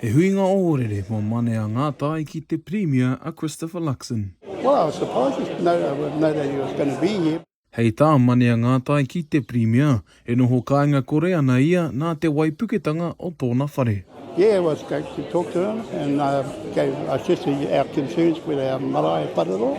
He huinga ohorere mo Manea Ngatai ki te Pirimia a Christopher Luxon. Well, I was surprised he didn't know, uh, know that he was going to be here. Hei tā Manea Ngatai ki te Pirimia, e noho kāinga kore ana ia nā te waipuketanga o tōna whare. Yeah, it was great to talk to him and uh, gave, I said our concerns with our marae whare roa.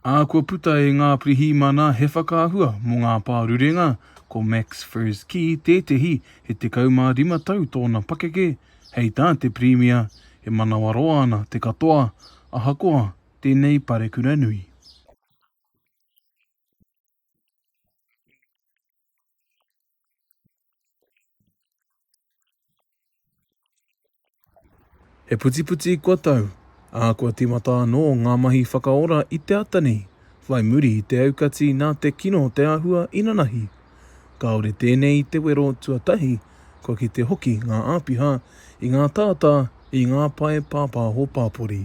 Ā, kua puta e ngā pirihimana he whakaahua mō ngā pārurenga, ko Max Fersky tētehi, he 15 tau tōna pakeke, hei tā te Pirimia, e manawaroa ana te katoa, ahakoa tēnei parekura nui. He putiputi kua tau, ā, kua tīmata anō ngā mahi whakaora i te ata nei, whai muri i te aukati nā te kino o te āhua inanahi. Kāore tēnei i te wero tuatahi, kua kite hoki ngā āpiha i ngā tātā, i ngā pae pāpāho pāpori.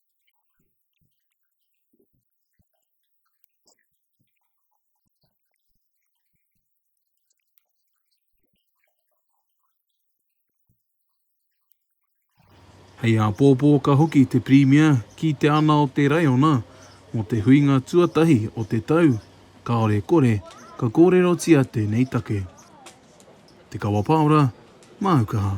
Hei āpōpō ka hoki te Pirimia ki te ana o te raiona mō te huinga tuatahi o te tau, kāore kore ka kōrerotia tēnei take. Te Kawa Paora, Māu Kaha.